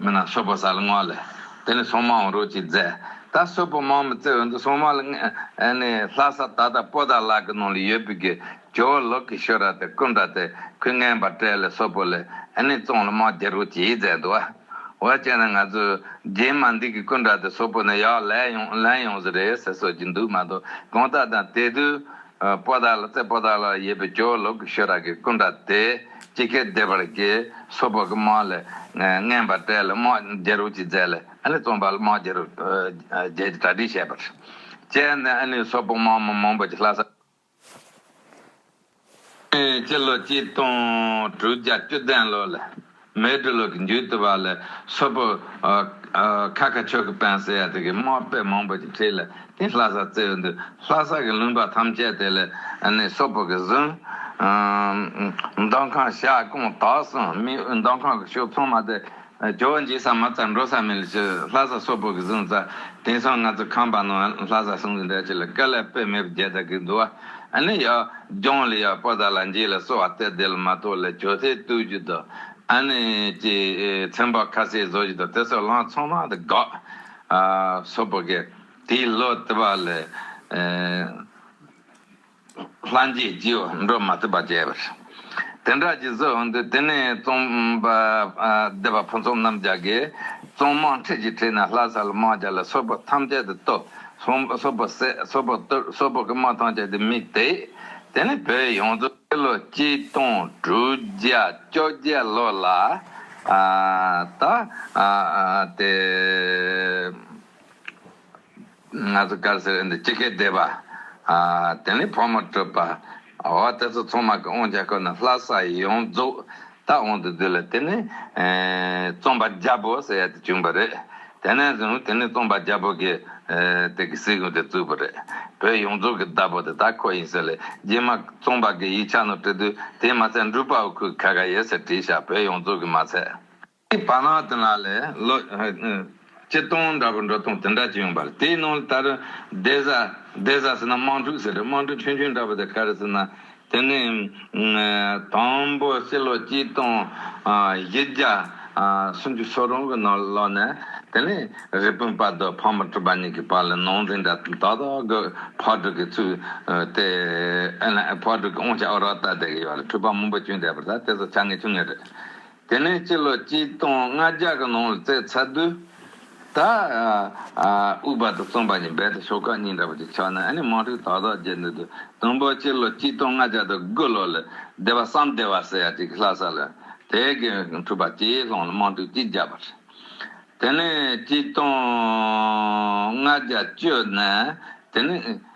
མི་རྣམས་སོལ་བོ་ཟ་ལ་བསྔོ་ལ། དེ་ནས་སྲུང་མའང་རོལ་ཅིག་མཛད། ད་སོལ་བོ་མང་མི་བརྩི་འོས་འདུག་སྲུང་མ་ལ་བསྔོས། ལྷ་ས་ད་ལྟ་སྤོ་དར་ལག་གི་ནང་ལ་ཡོད་པའི་གི་ཇོ་བོ་ལོག་གི་ཤོ་ར་དེ་ཀུན་འདྲ་དེ་ཁོས་བསྔན་པར་སྤྲད་ལ་སོལ་བོ་ལ་བསྔོས་བཙོང་ལ་དམག་རྒྱལ་རོལ་ཅིག་མཛད་འདུག་བ། བ་ཅན་ནས་ང་ཚོས་རྗེས་མ་འདི་གི་ཀུན་འདྲ་དེ་སོལ་བོ་ནས་ཡག་ལན་ཡོང་ལན་ཡོང་ཟེར་རེད་ཟེར་སོད་ཀྱི་འདུག་མ་གཏོགས་གང་ལྟར་དང་དེ་དུས་སྤོ་དར་ལ་རྩེ་སྤོ་དར་ལ་ཡོད་པའི་ཇོ་བོ་ལོག་གི་ཤོ་ར་གི་ཀུན་འདྲ་དེ། ཅི་སྐད་བཟླས་པར་བགྱི། སོགས་པ་ཀུན་མ་ལས་བརྔན་པར་བཀྲལ། དམག་རྒྱལ་རུ་ཅིག་མཛད། ཨཱ་ལི་རྩོམ་པ་དམག་རྒྱལ་རུ་རྒྱལ་གྱི་གྲ་སྒྲིགས་བྱས་པར། བཅས་ནས་ཨཱ་ལི་སོགས་དཔུང་དམག་མང་པོ་ཀྱི་ལྷ་ས། སྤྱི་ལོ་གཅིག་སྟོང་དྲུག་བརྒྱ་བཅུ་བདུན་ལོ་ལས། མེ་སྦྲུལ་ལོ་གི་མཇུག་ཏུ་བ་ལས་སོགས་པོ། ཁ་ཁ་ཆོས་ཀྱི་དཔོན་སེ་ཡ་ཏི་གི་དམག་དཔེ་མང་པོ་ཅིག་ཁྲིད་ལ་དེ་ལྷ་སར་བཙལ་བའི་འདུག་ལྷ་ས་ཀྱི་ལུང་པ་ཐམས་ཅད་དེ་ལས་ནི་སོག་པོ་ཀྱི་ཟུང། མདོ་ཁང་ཤ་ཀོང་དག་སོང་མི་མདོ་ཁང་གི་ཤོག་ཚོང་མ་དེ་ཇོ་བོ་འཇིགས་སམ་མ་རྩ་འགྲོ་ས་མི་ལ་ཆུ་ལྷ་ས་སོག་པོ་ཀྱི་ཟུང་རྩ་དེང་སང་ང་ཚོ་ཁམས་པ་ནང་ལྷ་ས་ཟུང་གི་འདྲ་ཆུ་ལ་སྐལ་ལས་དཔེ་མེད་པའི་རྒྱལ་དར་གྱི་འདུ་བ་ནི་ཡ་རྒྱང་ལ་ཡ་པོ་དར་ལ་འཇིགས་ལ་སོག་བ་རྩེ་དེ་ལ་མ་ཏོག་ལས་ཇོ་ཐེ་བཏུལ་རྒྱུ་དང་ཨ་ནི་ཀྱི་ཚེམ་བག་ཁ་སེ་བཟོ་རྒྱུ་དང་དེ་སོགས་ལང་ཚོ་མང་དུ་དགག། སོག་པོ་ཀྱི། དེའི་བློ་དེ་བ་ལས་སླ་འགྱེད་རྒྱུ་འགྲོ་མ་ཐུབ་པ་བྱས་པར། དེ་འདྲ་གྱི་གཟུགས་འོན་ཏེ་དེ་ནས་རྩོམ་པ་སྡེ་པ་ཕུན་ཚོགས་རྣམ་རྒྱལ་གྱིས་རྩོམ་དམངས་ཁྲིད་ཀྱི་ཁྲིད་ན་ལྷ་ས་ལ་དམག་རྒྱལ་ལ་སོགས་པ་ཐམས་ཅད་དུ་བསྟོད། སོག་པོ་བསད་སོག་པོ་བཏུལ་སོག་པོ་གི་དམག་ཐམས་ཅད་དུ་མི་དེད། དེ་ནས་བོད་ཡོངས་རྫོགས། སྤྱི་ལོ་གཅིག་སྟོང་དྲུག་བརྒྱ་བཅོ་བརྒྱད་ལོ་ལ། ད། དེ། ང་ཚོ་དཀར་ཟལ་རིན་དང་ཅི་ཁའི་སྡེ་པ། དེ་ནས་ཕོ་མོ་སྤྲུལ་པ། འོ་དེ་ཚོ་ཚང་མ་གི་དབང་ཆ་ཁོ་ན་ལྷ་ས་ཡོངས་རྫོགས་ད་དབང་དུ་བསྡུས་ལ་དེ་ནས་རྩོམ་པ་རྒྱ་བོ་ཟེར་ཡ་དེ་བྱུང་བ་རེད། དེ་ནས་བཟུང་དེ་ནས་རྩོམ་པ་རྒྱ་བོ་གི་དེ་གི་སྲིད་གཞུང་དེ་བཙུགས་པ་རེད། བོད་ཡོངས་རྫོགས་གི་བདག་པོ་དེ་ད་ཁོ་ཡིན་ཟེར་ལས་རྗེས་མ་རྩོམ་པ་གི་ཡིག་ཆ་ནང་བྲིས་དུས་དེ་མ་ཚད་འབྲུག་པའོ་ཁུ་ག་ག་ཡེ་ཟེར་བྲིས་ཤག་བོད་ཡོངས་རྫོགས་གི་མ་ཚད། ཀྱི་བར་སྔགས་དེ་ལ་ལས། སྤྱི་སྟོང་འདྲ་པོ་འགྲོ་སྟོང་དེ་འདྲ་ཅི་ཡོང་པར་དེའི་ནང་ལ་དར། བདེ་གཟའ། བདེ་གཟའ་ཟེར་ན་དམངས་ཕྲུག་ཟེར་རེད་དམངས་ཕྲུག་ཆུང་ཆུང་འདྲ་པོ་དེ་ག་རེ་ཟེར་ན། དེ་ནས། དང་པོ་སྤྱི་ལོ་སྤྱི་སྟོང། བཞི་བརྒྱ། སུམ་ཅུ་སོ་རུང་གི་ནང་ལོགས་ནས། དེ་ནས་རི་སྤུན་དཔའ་རྡོ་ཕག་མོ་གྲུ་པ་གཉིས་ཀྱི་བར་ལ་ནང་འཛིང་འདྲ་དག་དག་གི་ཕག་གྲུ་གྱི་ཚུལ། དེ། ཕག་གྲུ་གྱི་དབང་ཆ་ཨོ་རོག་ལྟར་བསྡད་ཀྱི་ཡོད་ལ་གྲུ་པ་མང་པོ་བྱོན་བསྡད་པ་ལྟར་དེ་ཚོ་བྱ་ངན་བྱུང་ངེས་རེད། དེ་ནས་སྤྱི་ལོ་གཅིག་སྟོང་ལྔ་བརྒྱ་གི་ནང་ལ་རྩའི་ཚ་རྡུལ་དག་དབུས་བར་དུ་བརྩམས་པ་ནི་རྦད་དེ་ཤོག་ཁག་གཉིས་འདྲ་བ་ཅིག་ཆགས་ནས་ཨ་ནི་དམག་འཁྲུག་དག་དག་བརྒྱད་འདུག་དུས་དང་པོ་སྤྱི་ལོ་གཅིག་སྟོང་ལྔ་བརྒྱ་དང་དགུ་ལོ་ལ་སྡེ་བ་སམ་སྡེ་བ་ཟེར་ཡ་ཅིག་གིས་ལྷ་ས་ལ་དེ་གའི་འཕྲུལ་པ་སྤྱིའི་ལྷང་ལ་དམག་འཁྲུག་ཅིག་བརྒྱབ་པ་རེད། དེ་ནས་གཅིག་སྟོང་ལྔ་བརྒྱ་བཅུ་ནས་དེ་ནི།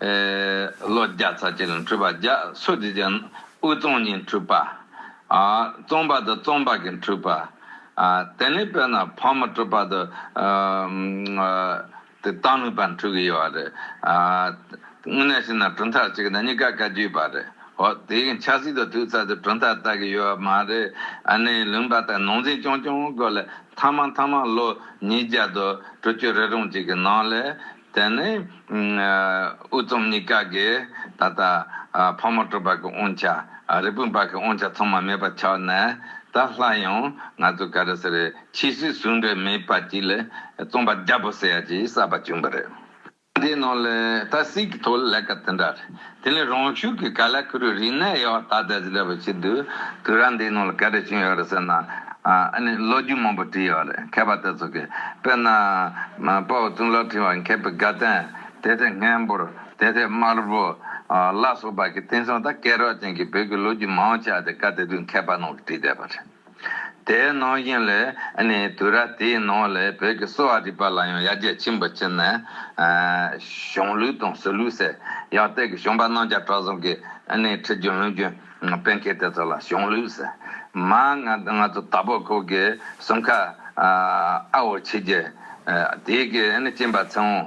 ལོ་བརྒྱ་རྩ་གཅིག་ལ་འཁྲུལ་པ་བརྒྱ་སོ་བཞི་ཅན་དབུས་གཙང་གཉིས་འཁྲུལ་པ། གཙང་པ་དང་གཙང་པ་གཉིས་འཁྲུལ་པ། དེ་ནས་བལྟས་ན་ཕག་མོ་སྤྲུལ་པ་དང། དེ་སྟག་ལུང་པ་འཁྲུལ་གྱི་ཡོད་རེད། དངོས་གནས་བྱས་ན་གྲུབ་མཐའ་གཅིག་གི་ནང་གཉིས་ཀ་བཀའ་བརྒྱུད་པ་རེད། ཧོ་དེ་ཡི་ཆབ་སྲིད་དུ་དུས་ཚོད་དུ་གྲུབ་མཐའ་བལྟ་གི་ཡོད་མ་རེད། ཨ་ནེའི་ལུང་པ་དང་ནང་འཛིང་རྐྱང་རྐྱང་དགོས་ལ་མཐའ་མ་མཐའ་མ་ལོ་ཉིས་བརྒྱ་དང་དྲུག་ཅུ་རེ་རུང་ཅིག་གི་ནང་ལས། དེ་ནས་དབུ་གཙུམ་གཉིས་ཀ་གིས་ད་ལྟ་ཕག་མོ་སྤྲུལ་པ་གི་དབང་ཆ་རི་སྤུན་པ་གི་དབང་ཆ་ཚང་མ་མེད་པར་ཆགས་ནས་ད་ལྷ་ཡང་ང་ཚོ་ག་རེ་ཟེར་བའི་ཕྱིས་སུའི་ཟུར་འབྲེལ་མེད་པ་གཅིག་ལས་རྩོམ་པ་རྒྱ་བོད་སེ་ཡ་གཅིག་གསར་པ་བྱུང་བ་རེད། དེའི་ནང་ལས་ད་སྲིད་ཀྱི་ཐོག་ལས་ཀ་དེ་འདྲ་རེད། དེ་ལས་རང་ཤུགས་ཀྱིས་ག་ལ་ཁུ་རུའི་རིག་གནས་ཡོད་ད་ལྟ་ཞིག་ལབ་པར་བྱེད་དུས་དུས་རབས་འདིའི་ནང་ལ་ག་རེ་བྱུང་ཡོད་རེད་ཟེར་ན། ཨ་ནི་ལོ་རྒྱུས་མང་པོ་བྲིས་ཡོད་རེད་མཁས་པ་དེ་ཚོ་གིས་དཔེར་ན། དཔའ་བོ་གཙུག་ལག་ཕྲེང་བ་མཁས་པའི་དགའ་ལྡན་དེ་ལྟའི་སྔས་འབུར་དེ་ལྟའི་དམར་བོ། བླ་སྲོག་བར་གྱི་བསྟན་སྲུང་དང་སྐལ་རོགས་ཅན་གྱི་བོད་ཀྱི་ལོ་རྒྱུས་མང་བོ་ཆགས་ཏེ་བཀའ་གཏེར་དུས་མཁས་པ་རྣམས་ཀྱིས་བྲིས་བསྡད་པ་རེད། དེའི་ནང་བཞིན་ལས་ནི་དུས་རབས་དེའི་ནང་ལས་བོད་ཀྱི་གསོ་བ་རིག་པ་ལ་ཡང་ཡར་རྒྱས་ཆེན་པོ་ཕྱིན་ནས། གཞུང་ལུགས་དང་སྲོལ་ལུགས་སེལ། ཡང་སྟེ་གཞུང་པ་རྣམས་ཀྱང་བྲག་རྫོང་གི་ཁྲི་རྒྱུན་ལུང་རྒྱུན་དཔོན་མཁས་དེ་ཚོ་ལ་གཞུང་ལུགས་སེལ། མ་ང་ཚོ་དྭགས་པོ་ཁོག་གི་གསུམ་ཁ་ཨ་བོ་ཆེ་རྒྱལ་དེའི་གྱིས་བཅིངས་པ་ཚེ་དབང།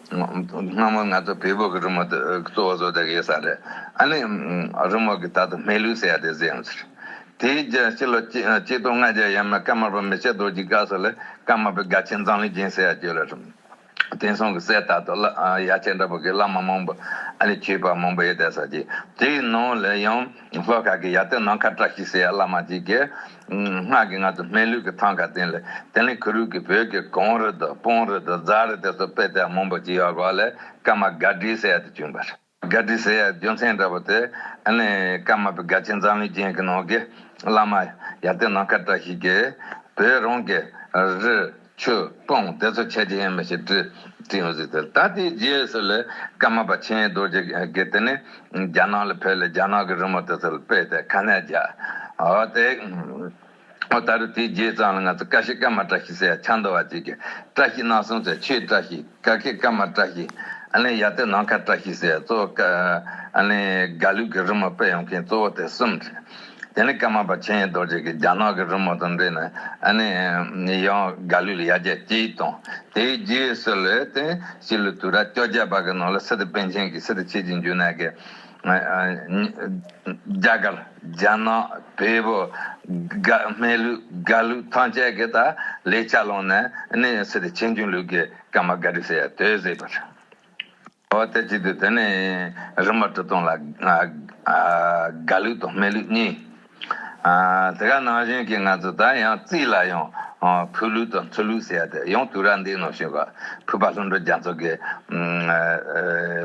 སྔ་མོ་ང་ཚོ་བལ་བོད་ཀྱི་རི་མོ་དེ་གཙོ་བོ་བཟོ་བསྡད་ཡོད་ས་རེད། ཨ་ནི་རི་མོ་གི་དག་ཏུ་སྨད་ལུག་ཟེར་ཡ་དེ་བཟོས་ཡོང་ཟེར། དེའི་རྒྱུན་ཕྱི་ལོ་གཅིག་སྟོང་ལྔ་བརྒྱ་ཡས་མས་ཀརྨ་པ་མི་ཆེ་རྡོ་རྗེ་སྒར་སོགས་ལས་ཀརྨ་པའི་དགའ་ཆེན་ཛམ་ལི་རྒྱན་ཟེར་ཡ་བཅོས་ལ་རིམ་དེང་སང་གི་སའི་དག་ཏུ་བླ་ཡ་ཆེ་འདྲ་པོ་གི་བླ་མ་མང་པོ་ཨ་ནི་ཆོས་པ་མང་པོ་ཡོད་བསྡད་ས་ཅིག་དེའི་ནང་ལས་ཡང་ལྷོ་ཁ་གི་ཡ་ཏི་ནང་ཁ་བཀྲ་ཤིས་ཟེར་ཡ་བླ་མ་ཅིག་གིས། སྔགས་ཀྱི་སྔགས་དུ་སྨན་ལུས་ཀྱི་ཐང་ག་བསྟན་ལ་དེ་ལས་གུ་རུས་ཀྱི་བོད་ཀྱི་གངས་རི་དང་སྤོང་རི་དང་རྫ་རི་དེ་ཚོ་དཔེ་དེབ་མང་པོ་ཅིག་ཡོད་པ་ལས་སྐར་མ་སྒར་སྒྲིའི་ཟེར་ཡག་དུ་བྱུང་བ་རེད། སྒར་སྒྲིའི་ཟེར་ཡག་རྒྱུ་མཚན་འདྲ་པོ་དེ། སྐར་མ་པའི་སྒར་ཆེན་འཛམ་གླིང་ཅན་གྱི་ནང་གི་བླ་མ་ཡ་དེ་ནང་ཁ་བཀྲ་ཤིས་ཀྱིས་བོད་རང་གི་རི། ཆོས་སྤོང་བདེ་མཚོ་ཆེ་ཆེན་མ་ཞེས་བྲི། བྲིས་མ་ཟིག་ཟེར། ད་ལྟའི་རྗེས་སུ་ལས་ཀ་མ་པ་ཆེན་རྡོ་རྗེ་དགེ་དེ་ནས་རྒྱ་ནག་ལ་ཕེབས་ལ་རྒྱ་ནག་གི་རི་མོ་དེ་ཚོ་ལ་དཔེ་དེ་ཁ་ནས་རྒྱག་འོ་དེ། འོ་ད་རུ་དེའི་རྗེས་ཙང་ལ་ང་ཚོ་བཀའ་ཤི་བཀའ་མ་བཀྲ་ཤིས་ཟེར་ཡ་ཆ་མདོ་བ་ཅིག་གིས་བཀྲ་ཤིས་གནང་སོང་ཟེར་ཆོས་བཀྲ་ཤིས། ཀ་ཁའི་ཀ་མ་བཀྲ་ཤིས། ཡ་ཏའི་ནང་ཁ་བཀྲ་ཤིས་ཟེར། གཙོ་བོ་ཀ་ལུགས་ཀྱི་རི་མོ་དཔེ་ཡོང་མཁན་གཙོ་བོ་དེ་གསུམ་རེད། དེ་ནི་ཀ་མ་པ་ཆེན་རྡོ་རྗེ་གིས་རྒྱ་ནག་གི་རི་མོ་དང་འབྲེལ་ནས་ཡང་ཀ་ལུགས་ལ་ཡར་རྒྱས་སྐྱེས་ཡིག་དང་དེའི་རྒྱུས་ཡོད་སྲོལ་ལས་དོན་ཕྱི་ལོའི་དུས་རབས་བཅོ་བརྒྱད་པ་གི་ནང་ལ་སི་ཏི་པཎ་ཆེན་གྱིས་སི་ཏི་ཆོས་རྗེ་འཇུ་ནཱ་གའི་རྒྱ་གར་རྒྱ་ནག་བལ་བོ་སྨད་ལུགས་དགའ་ལུགས་ཐང་ཅད་ཀྱི་དག་ལས་ཆ་ལོངས་ནས་ནི་ཡང་སྲིད་དེ་ཆེ་འབྱུང་ལུགས་ཀྱི་ཀ་མ་ག་རི་སེ་ཡ་དོས་གཟིགས་པར་བྱའོ། དེ་བྱེད་དུས་དེ་ནི་རིམ་པ་གྲུ་སྟོང་ལ་དགའ་ལུགས་དང་སྨད་ལུགས་གཉིས། དེ་ག་ནང་བཞིན་གྱི་ང་ཚོ་ད་ཡང་རྩིས་ལ་ཡང་ཕུ་ལུག་དང་ཚུར་ལུག་ཟེར་ཏེ་ཡང་དུས་རབས་འདིའི་ནང་བྱོན་པ་ཕུད་པ་ལྷུན་གྲུབ་རྒྱ་མཚོ་གི་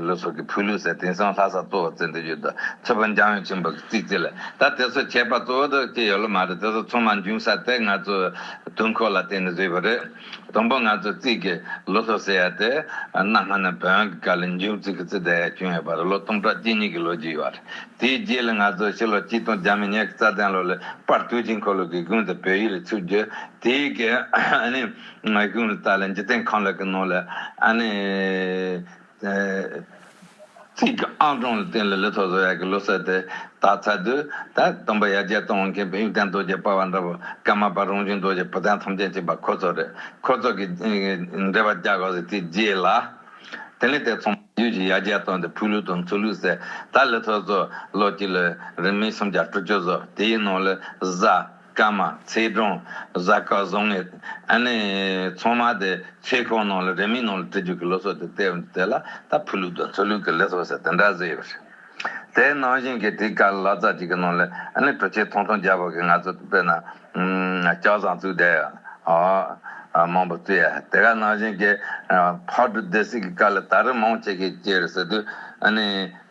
ལོ་སོགས་ཀྱི་ཕུ་ལུག་ཟེར་དེང་སང་ལྷ་ས་གཙོ་བོར་རྩེ་འདི་བརྒྱུད་དུ་ཚུད་པ་འཇམ་དབྱངས་ཆེན་པོ་གི་རྩིས་རྩིས་ལ་ད་དེ་ཚོ་ཁྱད་པར་གཙོ་བོ་དུ་སྐྱེས་ཡོད་ལ་མ་རེད་དེ་ཚོ་ཚང་མ་འབྱུང་ས་དེ་ང་ཚོའི་དུས་འཁོར་ལ་བརྟེན་ནས་བཟོས་པ་རེད། དང་པོ་ང་ཚོས་རྩིས་ཀྱི་ལོ་ཐོ་ཟེར་ཡ་དེ་གནའ་སྔ་ནས་བོན་གྱི་བཀའ་ལས་མཇུག་རྩིས་ཀྱི་རྩིས་བསྡད་ཡ་བྱུང་ཡོད་པ་རེད་ལོ་སྟོང་ཕྲག་གཅིག་གཉིས་ཀྱི་ལོ་རྒྱུས་ཡོད་པ་རེད་དེའི་རྗེས་ལ་ང་ཚོས་ཕྱི་ལོ་གཅིག་སྟོང་བརྒྱ་མི་ཉག་གི་རྩ་ལྡན་ལོ་ལས་པར་ཏུའུ་ཅིན་ཁོ་ལུགས་ཀྱི་དགུན་དུ་བོད་ཡིག་རིགས་ཚུགས་རྒྱུ་དེའི་གི་གཞུང་ལུགས་དག་ལས་འཇིག་རྟེན་ཁམས་ལེགས་ཀྱི་ནང་ལ། ཚིག་གི་ཨང་གྲངས་ལ་བརྟེན་ལ་ལི་ཐོ་བཟོ་ཡག་གི་ལོ་གསར་དེ་དག་ཚར་དུས་ད་སྟོན་པ་ཡར་རྒྱས་གཏོང་འོང་མཁན་བོད་ཡིག་དན་རྡོ་རྗེ་པ་བ་འདྲ་བོ་སྐལ་མ་པ་རོང་ཆུང་རྡོ་རྗེ་བོ་དན་ཐོམ་ཆེན་གཅིག་པ་ཁོ་ཚོ་རེད་ཁོ་ཚོ་གི་འབྲེལ་བ་རྒྱག་གོ་ཟེར་དེ་རྗེས་ལ་དེ་ནས་དེ་ཚོ་མང་རྒྱུད་ཀྱི་ཡར་རྒྱས་གཏོང་དེ་ཕུག་ལུག་དང་མཚོ་ལུག་ཟེར་ད་ལི་ཐོ་བཟོ་ལོ་གཅིག་ལ་རིན་མིན་སུམ་བརྒྱ་དྲུག་ཅུ་བཟོ་དེའི་ནང་ལ་བཟའ། སྐར་མ་ཚེ་སྒྲོན་གཟའ་སྐར་བཟང་ངན་ཨ་ནེ་ཚང་མ་དེ་ཚེ་ཁང་ནང་ལ་རེ་མིག་ནང་ལ་དྲི་རྒྱུག་གི་ལོ་སོ་དེ་བལྟས་འོང་དེ་ལ་ད་ཕུ་ལུག་དང་ཚུར་ལུག་གི་ལས་སོ་ཟེར་དེ་འདྲ་ཟེར་ཡོད་རེད་དེ་ནང་བཞིན་གྱི་དེའི་སྐར་ལ་ཙག་ཅིག་གི་ནང་ལ་ཨ་ནེ་གྲོ་ཆས་ཐོང་ཐོང་རྒྱག་པ་གི་ང་ཚོ་དཔེར་ན་སྐྱག་བཟང་བཙུགས་བསྡད་ཡོད་ཨོ་མང་པོ་བཙུགས་ཡོད་དེ་ག་ནང་བཞིན་གྱི་ཕག་གྲུ་སྡེ་སྲིད་ཀྱི་སྐར་ལ་ད་རི་མང་ཆེ་གེ་སྐྱེས་རེད་ཟེར་དུས་ཨ་ནེ།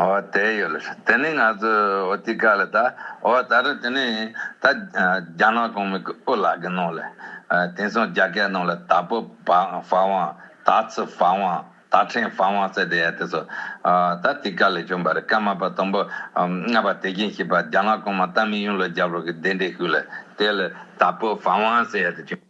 ཨོ་དེ་ཡོད་ལ་དེ་ནི་ང་ཚོའི་འོ་ཐིག་ཀ་ལ་ད་ཨོ་ད་རེད་དེ་ནི་ད་རྒྱ་ནག་གོང་མའི་དབུ་ལག་གི་ནང་ལ་དེང་སང་རྒྱ་སྐད་ནང་ལ་ད་པོ་བ་བང་ད་ཚི་བ་བང་ད་ཕྲེང་བ་བང་ཟེར་དེ་ཡ་དེ་ཚོ་ད་ཐིག་ཀ་ལས་བྱུང་བ་རེད་སྐར་མ་པ་དང་པོ་ལྔ་པ་དེ་གྱིན་ཞིག་པ་རྒྱ་ནག་གོང་མ་ཏཱ་མི་ཡུང་ལ་རྒྱབ་རོགས་ཀྱི་གདན་འདྲེན་ཞུས་ལ་དེ་ལ་ད་པོ་བ་བང་ཟེར་ཡ་དེ་བྱུང།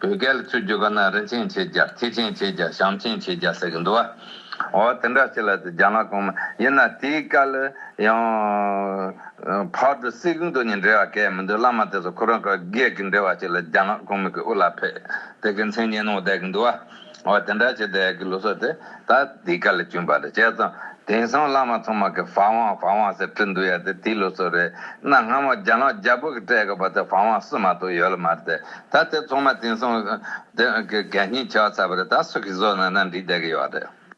བོད་སྐད་ལ་ཚུད་རྒྱུ་ག་ན་རིན་ཆེན་ཆེ་བརྒྱ་ཐེག་ཆེན་ཆེ་བརྒྱ་ཞང་ཆེན་ཆེ་བརྒྱ་ཟེར་གི་འདུག་ཨ། འོ་དེ་འདྲ་ཞིག་ལ་དེ་རྒྱ་ནག་གོང་མ་ཡིན་ན་དེའི་སྐད་ལ་ཡང། བར་དུ་སྲིད་གི་མདོ་གཉིས་འབྲེལ་བ་གས་མི་འདུག་བླ་མ་དེ་ཚོ་ཁོ་རང་ག་གས་ཀྱི་འབྲེལ་བ་ཞིག་ལ་རྒྱ་ནག་གོང་མི་གི་དབུ་ལ་ཕེབས་དེ་གི་མཚན་སྙན་གནང་བསྡད་གི་འདུག་ཨ། འོ་དེ་འདྲ་བྱེད་དེ་གི་ལུགས་སྲོལ་དེ་ད་འདི་ག་ལ་གྱུར་པ་རེད་བྱས་ཙང་དེང་སང་བླ་མ་ཚང་མ་གི་བ་ཝང་བ་ཝང་ཟེར་བྲིས་འདུག་ཡ་དེ་དེའི་ལུགས་སྲོལ་རེད་གནའ་སྔ་མོ་རྒྱ་ནག་རྒྱ་བོད་ཀྱི་སྤྲད་གི་བ་དེ་བ་ཝང་བསུ་མ་ཐུག་ཡོད་ལ་མ་རེད་དེ་ད་དེ་ཚང་མ་དེང་སང་གི་གད་སྙིགས་བྱས་བ་ཚར་བ་རེད་ད་སུ་གིས་བཟོས་ན་ན་འགྲིག་བསྡད་གི་ཡོད་རེད།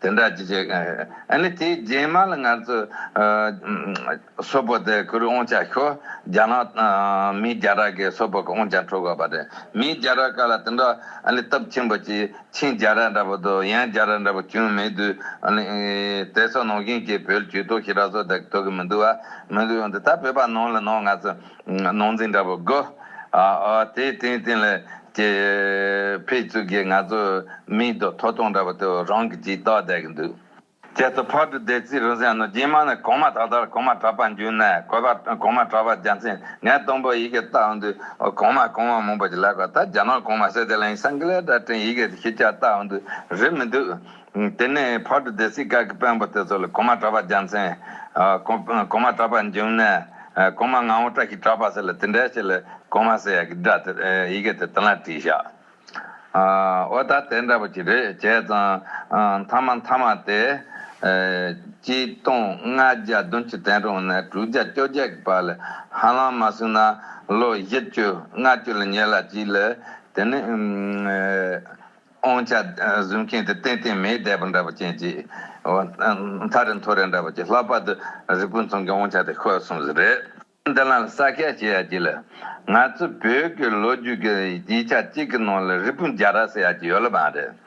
དེ་འདྲ་ཅི་བྱེད། ཨ་ནི་དེའི་རྗེས་མ་ལ་ངར་ཚོས། སོ་པོ་དེ་ཁུར་དབང་ཆ་ཤོར། རྒྱ་ནག་དང་མི་རྒྱ་ར་གས་སོ་པོ་གི་དབང་ཆ་འཕྲོག་དགོས་པ་རེད། མི་རྒྱ་ར་ཀ་ལ་དེ་འདྲ་ཨ་ནི་སྟབས་ཆེན་པོ་གྱིས་ཆིན་རྒྱ་ར་འདྲ་པོ་དུ་ཡན་རྒྱ་ར་འདྲ་པོ་བྱུང་མེད་དུས། ཨ་ནི་དེ་སོགས་ནང་བཞིན་གྱི་བོད་ཇུས་གཏོགས་ཤི་རག་སོགས་དེ་ཐོས་གི་མི་འདུག་བ། མི་འདུག་ཡང་དེ་ལྟར་བོད་པ་ནང་ལ་ནང་ང་ཚོས། ནོར་འཛིན་འདྲ་པོ་དགོས། དེའི་སྟེང་སྟེང་ལ་ཀྱི། ཕེ་ཚུག་གི་ང་ཚོ་མིའི་རྡོ་ཐོ་སྟོང་འདྲ་པོ་དེ་རང་གི་ཅིག་བཏགས་བསྡད་ཀྱི་འདུག། ཁྱེད་ཚོ་ཕར་འགྲོ་བསྡད་རྩིས་རུ་ཟན་ནོ་རྗེས་མ་ནས་གོང་མ་དག་དར་གོང་མ་གྲགས་པ་འཇུ་ནས་གོས་པ་གོང་མ་གྲགས་པ་རྒྱ་མཚན་ངས་སྟོང་པོ་ཡི་གེ་བཏགས་འོང་དུས་གོང་མ་གོང་མ་མང་པོ་ཞིག་ལེགས་པ་ལྟར་རྒྱ་ནག་གོང་མ་སེ་ཏེ་ལེང་སངས་ཀི་ལེ་འདྲ་བཀྲིན་ཡི་གེ་ཞིག་ཁྱེད་ཅག་བཏགས་འོང་དུས་རེད་མི་འདུག། དེ་ནས་བར་དུ་སྡེ་སྲིད་ཀག་གི་དཔོན་པོ་དེ་ཚོ་ལ་གོང་མ་གྲྭ་པ་རྒྱ་མཚན། གོང་མ་གྲྭ་པ་འབྱུང་གནས། གོང་མ་ངག་དབང་བཀྲ་ཤིས་གྲྭ་པ་ཟེར་ལ་དེ་འདྲའི་ཆེད་ལས་གོང་མ་ཟེར་ཡ་གི་སྒྲ་དེ་ཡི་གེ་དེ་དེ་ལ་བྲིས་བཞག། ཨོ་ད་དེ་འདྲ་པོ་ཅིག་རེད་བྱས་ཙང། མཐའ་མ་མཐའ་མ་དེ། གཅིག་སྟོང་ལྔ་བརྒྱ་བདུན་ཅུ་དན་རུང་ནས་དྲུག་བརྒྱ་བཅོ་བརྒྱད་ཀྱི་བར་ལ་ཧ་ལམ་མ་སོང་ན་ལོ་བཞི་བཅུ་ལྔ་བཅུ་ལ་ཉེ་ལ་ཅིག་ལས་དེ་ནི། ཨོང་ཅག་བཟོས་མཁན་དེ་ཏན་ཏན་མེའི་རྡལ་པོ་འདྲ་བོ་ཅན་གྱི་མཐའ་རི་མཐོ་རེ་འདྲ་བོ་ཅིག་ལྷག་པར་དུ་རི་སྤུན་ཚང་གི་ཨོང་ཅག་དེ་ཁོས་གསུངས་ཟིན་རེད། འདི་ལ་ས་སྐྱ་ཞེས་ཡག་གི་ལ། ང་ཚོའི་བོད་ཀྱི་ལོ་རྒྱུས་ཀྱི་ཡིག་ཆ་གཅིག་གི་ནང་ལ་རི་སྤུན་རྒྱ་ར་ཟེར་ཡག་གི་ཡོད་ལབ་ཨང་རེད།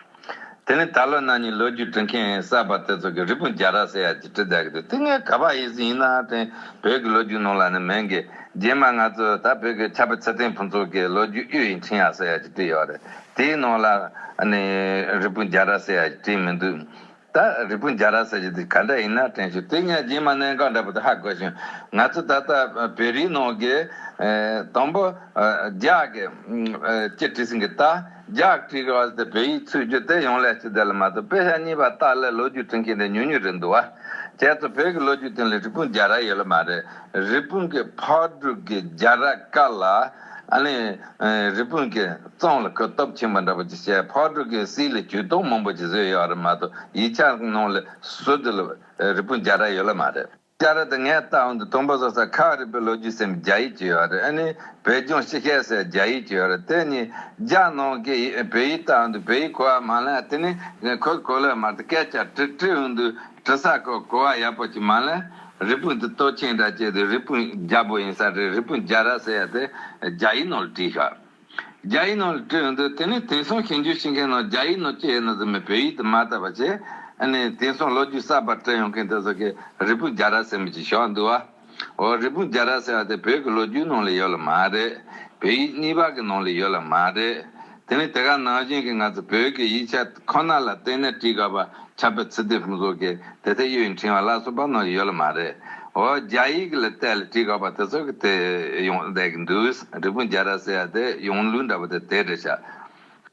དེ་ནི་ད་ལོ་ན་ནིང་ལོ་རྒྱུས་བྲི་མཁན་གསར་པ་དེ་ཚོ་གིས་རི་སྤུན་རྒྱ་ར་ཟེར་ཡག་གི་བྲི་བསྡད་གི་འདུག་དེ་ངའི་ག་པར་ཡིག་ཟིན་ཡིན་ནའང་དྲན་བོད་ཀྱི་ལོ་རྒྱུས་ནང་ལ་ནི་མེད་གི་རྗེས་མ་ང་ཚོས་ད་བོད་ཀྱི་ཆབ་དཔལ་ཚེ་བརྟན་ཕུན་ཚོགས་ཀྱི་ལོ་རྒྱུས་གཡུ་ཡི་འཕྲིན་ཡག་ཟེར་ཡག་གི་བྲིས་ཡོད་རེད། དེའི་ནང་ལ་ནི་རི་སྤུན་རྒྱ་ར་སེ་ཡ་བྲིས་མི་འདུག། ད་རི་སྤུན་རྒྱ་ར་སེ་ཡ་འདི་ག་འདྲ་ཡིན་ན་དྲན་བྱུང་དེ་སྙན་རྗེས་མ་གནས་འགག་འདྲ་པོ་དེ་ཧ་གོ་བྱུང། ང་ཚོ་ད་ལྟ་བོད་རིགས་ནང་གི། དང་པོ། རྒྱག་གི། ཅེས་བྲིས་ཟིན་གི་ད་རྒྱག་བྲིས་གི་བ་དེ་བོད་ཡིག་ཚུད་རྒྱུ་དེ་ཡོང་ལས་ཅི་བདེ་ལ་མ་གཏོགས་དཔེ་ཆ་གཉིས་པ་ཏག་ལས་ལོ་རྒྱུས་བྲི་མཁན་དེ་ཉུང་ཉུང་རེད་འདུག་བ། ཁྱེད་ཚོ་བོད་ཀྱི་ལོ་རྒྱུས་སྟེང་ལ་རི་སྤུན་རྒྱ་ར་ཡོད་ལ་མ་རེད། རི་སྤུན་གྱི་ཕག་གྲུག་གི་རྒྱ་ར་ཀ་ལ། ཨ་ལས། རི་སྤུན་གྱི་རྩང་ལ་གུ་སྟོབས་ཆེན་པོ་འདྲ་པོ་ཅིག་བྱས་ཕག་ཕྲུག་གི་བསིལ་ལ་གྱོད་གཏོང་མང་པོ་ཅིག་བཟོས་ཡོད་རེད་མ་གཏོགས་ཡིད་ཆགས་གནང་ལ་སུ་དེ་ལ་རི་སྤུན་བརྒྱ་ར་ཡོད་ལ་མ་རེད། བསྐྱར་ར་དེ་ངས་ལྟ་འོང་དུ་དུམ་བུ་བཟོ་ས་ཁག་རིག་པའི་ལོ་རྒྱུས་སེམས་རྒྱ་ཡིག་ཅིག་ཡོད་རེད་ཨ་ནི་བོད་ལྗོངས་ཤི་ཤེས་སའི་རྒྱ་ཡིག་ཅིག་ཡོད་རེད་དེ་གཉིས་རྒྱ་ནང་གི་བོད་ཡིག་ལྟ་འོང་དུ་བོད་ཡིག་གོ་བ་མ་ལ་དེ་ནི་ཁོས་གོ་ལ་མ་རེད་སྐད་ཆ་དྲི་དྲི་འོང་དུ་དྲི་ཟ་གོ་གོ་བ་ཡག་པོ་གྱི་མ་ལ་རི་སྤུན་དུ་ལྟོ་ཆེན་འདྲ་སྐྱེས་འདུག་རི་སྤུན་རྒྱ་པོ་ཡིན་ས་རེད་རི་སྤུན་རྒྱ་ར་ཟེར་ཡ་དེ་རྒྱ་ཡིག་ནང་ལ་བྲིས་ཤག་རྒྱ་ཡིག་ནང་ལ་བྲིས་འོང་འདུག་དེ་ནས་དེང་སང་ཞིང་རྒྱུ་ཤི་མཁན་ནང་རྒྱ་ཡིག་ནང་སྐྱེས་ཡོད་ན་ཟེར་མི་བོད་ཡིག་དུ་མ་བཏགས་པ་བྱས་ཨ་ནས་དེང་སང་ལོ་རྒྱུས་གསར་པར་བྲིས་ཡོང་མཁན་དེ་ཚོ་གིས་རི་སྤུན་རྒྱ་ར་ཟེར་མི་བྱེད་ཤག་འདུག་བ། འོ་རི་པུ་རྒྱ་ར་ཟེར་བ་དེ་བོད་ཀྱི་ལོ་རྒྱུས་ནང་ལ་ཡོད་ལ་མ་རེད། བོད་ཡིག་གཉིས་པ་གི་ནང་ལ་ཡོད་ལ་མ་རེད། དེ་ནི་དེ་ག་ནང་བཞིན་གྱི་ང་ཚོ་བོད་ཀྱི་ཡིག་ཆ་ཁོ་ན་ལ་བལྟས་ནས་བྲིས་དགོས་པ་ཆགས་པའི་ཚུལ་དེ་ཧུན་སོག་གི་དེ་ཚེ་གཡོད་ཡིག་འཕྲིན་བ་ལགས་སོགས་པ་ནང་ཡོད་ལ་མ་རེད། འོ་རྒྱ་ཡིག་གི་ལ་བལྟས་ལ་བྲིས་དགོས་པ་དེ་ཚོ་གི་དེ་ཡོང་བསྡད་ཀྱི་འདུག་རི་པུ་རྒྱ་ར་ཟེར་བ་དེ་ཡོང་ལུགས་འདྲ་བ་དེ་དེ་འདྲ་ཤག།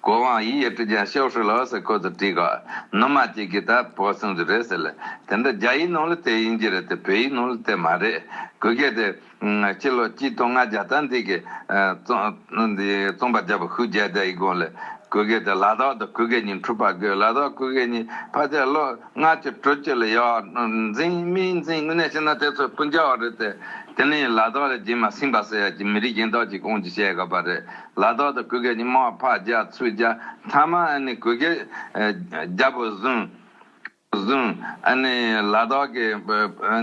གོ་ཝང་ཡིས་ཡེ་ཀྲི་ཅང་ཤའོ་ཧྲུའུ་ལ་ཨོ་སི་ཁོ་ཚོ་བྲིས་ག་ནོ་མ་གཅིག་གིས་ད་བོ་གསུངས་རྒྱུ་རེད་ཟེར་ལེ་དེ་འདྲ་རྒྱ་ཡིག་ནང་ལ་དེ་ཡིན་གྱི་རེད་དེ་བོད་ཡིག་ནང་ལ་དེ་མ་རེད་གུ་སྐད་དེ། ཕྱི་ལོ་གཅིག་སྟོང་ལྔ་བརྒྱ་དང་འདི་གི། རྩོམ་པ་བརྒྱ་པ་ཧུའུ་རྒྱལ་རྒྱ་ཡིག་དགོངས་ལས་གུ་སྐད་དེ་ལ་དྭགས་དང་གུ་སྐད་གཉིས་འཁྲུག་པ་དགོས་ལ་དྭགས་གུ་སྐད་གཉིས་ཕ་ཆ་ལོ་ལྔ་བཅུ་དྲུག་བཅུ་ལ་ཡོག་འཛིན་མི་འཛིན་དངོས་གནས་བྱས་ན་དེ་ཚོ་སྤུན་བྱ་བ་རེད་དེ་དེ་ནི་ལ་དྭགས་ལ་སྦྱིན་མ་སྲིང་པ་ཟེར་ཡ་གྱི་མི་རིགས་གཞན་དག་ཅིག་ཁོང་གྱིས་བཤད་དགོས་པ་རེད་ལ་དྭགས་དང་གུ་གེ་གཉིས་མ་ཕ་རྒྱ་ཚུ་རྒྱ་མཐའ་མ་ཨ་ནི་གུ་གེ་རྒྱ་བོད་བཟུང་ཨ་ནི་ལ་དྭགས་ཀྱི་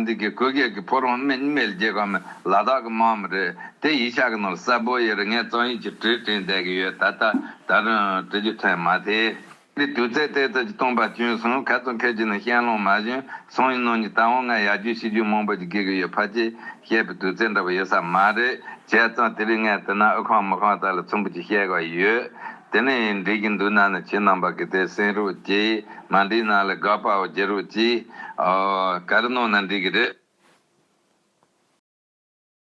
འདི་གི་གུ་གེ་གི་ཕོ་རོང་སྨད་མེལ་རྒྱལ་ཁབ་མི་ལ་དྭགས་ཀྱི་མ་མི་རེད་དེ་ཡིག་ཆ་གི་ནང་གསལ་པོ་ཡོད་རེད་ངས་རྩོམ་ཡིག་ཅིག་བྲིས་བྲིས་བསྡད་ཀྱི་ཡོད་ད་ལྟ་ད་དུང་བྲི་རྒྱུ་ཐོན་མ་ཐེ། འདི་དུས་ཚེ་ཏའི་ཚལ་གྱི་སྟོང་པ་གྱོན་སོང་ག་ཚོད་འཁེལ་རྒྱུ་ནི་ཤན་ལོང་མ་གཞོན་སོང་ཡིན་ནོ་ཉི་ད་འོང་ང་ཡར་རྒྱུགས་ཤི་རྒྱུགས་མང་པོ་ཅིག་དགེ་གི་ཡོད་ཕ་ཅེས་བཤད་པའི་དུས་ཚེ་འདྲ་བོ་ཡོད་ས་མ་རེད་བྱས་ཙང་དེ་རིང་ངས་དེ་ན་ཨུ་ཁང་མུ་ཁང་དག་ལ་ཚོམ་བུ་ཅིག་བཤད་དགོས་ཡོད་དེ་ནི་འགྲིག་གི་འདུག་ནང་ནས་ཁྱེད་རྣམ་པ་གི་དེ་སེང་རུ་ཅི་མ་འགྲིག་ནང་ལས་དགའ་པའོ་རྒྱལ་རུ་ཅི་ཨོ་ག་རེ་གནང་ན་འགྲིག་གི་རེད།